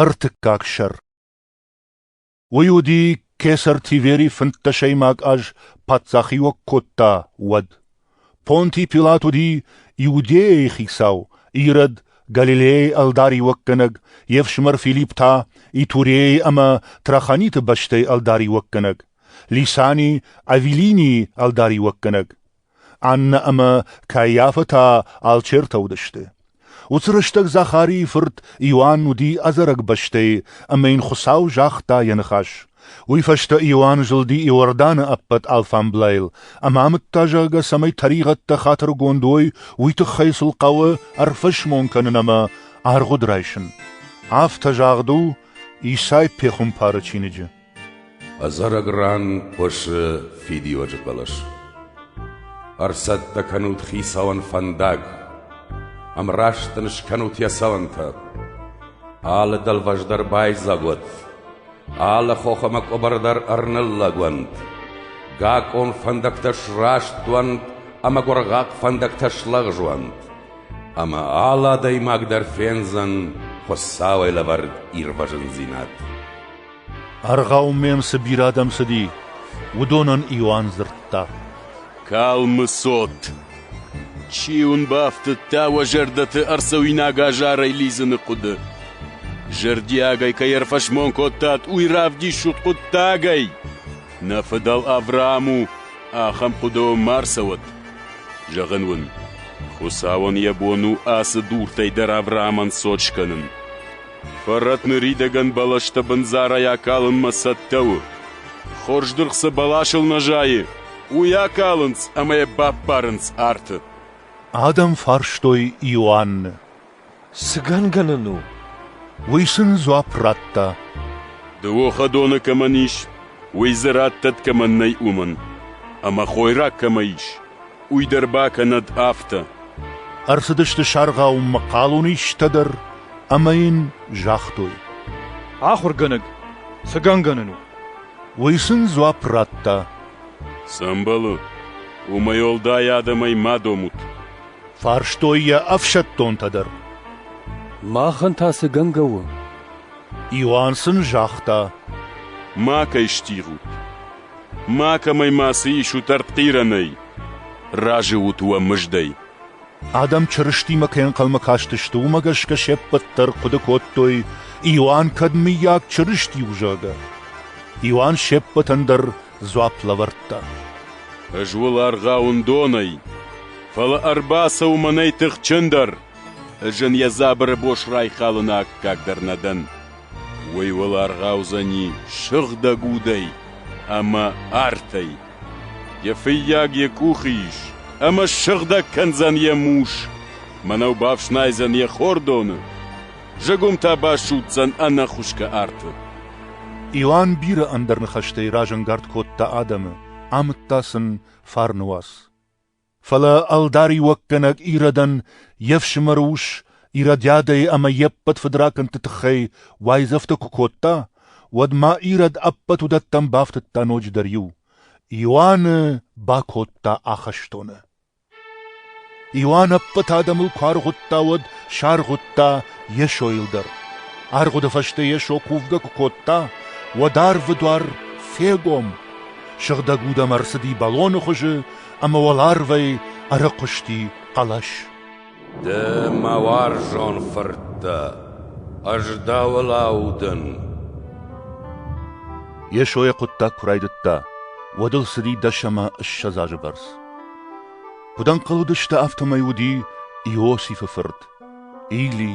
Ӕртыккаг сӕр Уый уыди кесӕр Тивери фынддӕсӕймаг аз паддзахиуӕг кодта, уӕд. Понтий Пилат уыди Иудейӕйы хицау, Ирод Галилейы ӕлдариуӕггӕнӕг, йе фсымӕр Филипп та Итурейы ӕмӕ Траханиты бӕстӕйы ӕлдариуӕггӕнӕг, Лисани Авелинийы ӕлдариуӕггӕнӕг. Аннӕ ӕмӕ Кайафӕ та алчертӕ уыдысты. Уыцы рӕстӕг Захарийы фырт Иоанн уыди ӕдзӕрӕг бӕстӕйы ӕмӕ йын Хуыцау загъта йӕ ныхас. Уый фӕстӕ Иоанн зылди Иорданы ӕппӕт алфамблайыл ӕмӕ амыдта, зӕгъгӕ, цӕмӕй тӕригъӕдтӕ хатыргонд уой, уый тыххӕй сыл хъӕуы ӕрфӕсмон кӕнын ӕмӕ аргъуыд райсын. Афтӕ загъд у Исай пехуымпары чиныджы. Ӕдзӕрӕг ран хъуысы фидиуӕджы хъӕлӕс. Ӕрцӕттӕ кӕнут хицауӕн фӕндаг, ӕмраст ын скӕнут йӕ цӕуӕнтӕ. Алы дӕлвӕз дӕр байдзаг уӕд, алы хох ӕмӕ къуыбар дӕр ӕрныллӕг уӕнт, гакъон фӕндӕгтӕ сраст уӕнт ӕмӕ гуыргъахъ фӕндӕгтӕ слӕгъз уӕнт, ӕмӕ алы адӕймаг дӕр фендзӕн Хуыцауӕй лӕвӕрд ирвӕзындзинад. Аргъауы мӕм цы бирӕ адӕм цыди, уыдонӕн Иоанн дзырдта. Калмы цот! Чи уын бафтыдта уӕ зӕрдӕты ӕрцӕуинаг азарӕй лидзыны хъуыды? Зӕрдиагӕй кӕй ӕрфӕсмон кодтат, уый равдисут хъуыддагӕй. Нӕ фыдӕл Авраам у, ахӕм хъуыдыйыл ма рцӕуӕд. Зӕгъын уын, Хуыцауӕн йӕ бон у ацы дуртӕй дӕр Авраамӕн цот скӕнын. Фӕрӕт ныридӕгӕн бӕлӕстӕ бындзарӕй акалынмӕ цӕттӕ у. Хорз дыргъ цы бӕласыл нӕ зайы, уый акалынц ӕмӕ йӕ баппарынц арты. Адӕм фарстой Иоанны. Цы гӕнгӕ нын у? Уый сын дзуапп радта. Дыууӕхӕдоны кӕмӕн ис, уый дзы раттӕт кӕмӕн нӕй, уымӕн. Ӕмӕ хойраг кӕмӕ ис, Уый дӕр бакӕнӕд афтӕ. Ӕрцыдысты саргъаумӕ хъалон истӕ дӕр ӕмӕ йын загътой. Ахуыргӕнӕг, цы гӕнгӕнӕн у? Уый сын дзуапп радта. Цы ӕмбӕлы, уымӕй уӕлдай адӕмӕй ма домут. Фарстой йӕ ӕфсӕддонтӕ дӕр. Махӕн та цы гӕнгӕ у? Иоанн сын загъта. Макӕй стигъут. Макӕмӕй ма цы исут ӕртхъирӕнӕй? Разы ут уӕ мыздӕй. Адӕм Чырыстимӕ кӕй ӕнхъӕлмӕ кастысты, уымӕ гӕсгӕ се ппӕт дӕр хъуыды кодтой, Иоанн кӕд, мыййаг, Чырысти у, зӕгъгӕ. Иоанн се ппӕтӕн дӕр дзуапп лӕвӕрдта. Ӕз уыл аргъауын донӕй, фӕлӕ ӕрбацӕуы мӕнӕй тыхджындӕр. Ӕз ын йӕ дзабыры бос райхалыны аккаг дӕр нӕ дӕн. уый уыл ӕргъӕудзӕни сыгъдӕг удӕй ӕмӕ артӕй. Йӕ фыййаг йӕ къухы ис ӕмӕ сыгъдӕг кӕндзӕн йӕ мус, мӕнӕу бафснайдзӕн йӕ хордоны, зыгуым та басудздзӕн ӕнӕхуысгӕ арты. Иоанн бирӕ ӕндӕр ныхӕстӕй разӕнгард кодта адӕмы, амыдта сын фарны уац. Фӕлӕ ӕлдариуӕггӕнӕг Иродан йе фсымӕры ус Иродиадӕй ӕмӕ йе ппӕт фыдракӕндты тыххӕй уайдзӕфтӕ куы кодта, уӕд ма Ирод ӕппӕт уыдӕттӕм бафтыдта ноджыдӕр иу. Иоанны бакодта ахӕстоны. Иоанн ӕппӕт адӕмыл куы аргъуыдта, уӕд саргъуыдта Йесойыл дӕр. Аргъуыды фӕстӕ Йесо кувгӕ куы кодта, уӕд арвы дуар фегом. Сыгъдӕг удӕм ӕрцыди бӕлоны хуызы ӕмӕ уӕларвӕй ӕрыхъуысти хъӕлӕс. Ды, мӕ уарзон фырттӕ, ӕз дӕуыл аудын. Йесо йӕ хъуыддаг куы райдыдта, уӕд ыл цыди дӕс ӕмӕ ссӕдз азы бӕрц. Куыд ӕнхъӕл уыдысты, афтӕмӕй уыди Иосифы фырт, Или,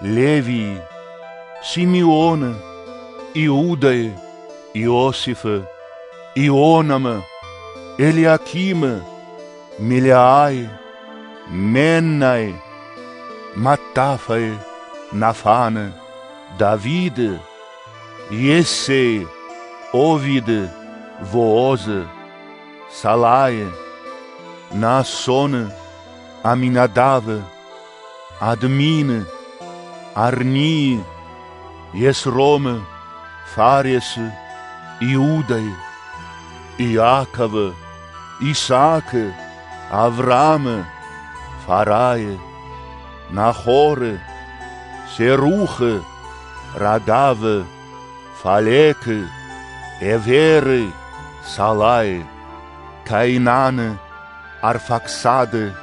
Левийы, Симеоны, Иудӕйы, Иосифы, Ионамы, Елиакимы, Мелиайы, Меннайы, Маттафайы, Нафаны, Давиды, Иессейы, Овиды, Воозы, Салайы, Насоны, Аминадавы, Админы, Арнийы, Есромы, Фаресы, Иудайы, Иаковы, Исаакы, Авраамы, Фарайы, Нахоры, Серухы, Радавы, Фалекы, Эверы, Салайы, Кайнаны, Арфаксады,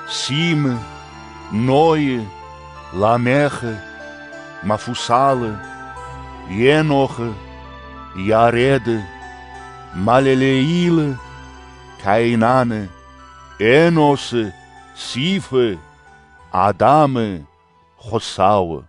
Симы, Нойы, Ламехы, Мафусалы, Енохы, Яреды, Малелеилы, Каинаны, Эносы, Сифы, Адамы, Хуыцауы.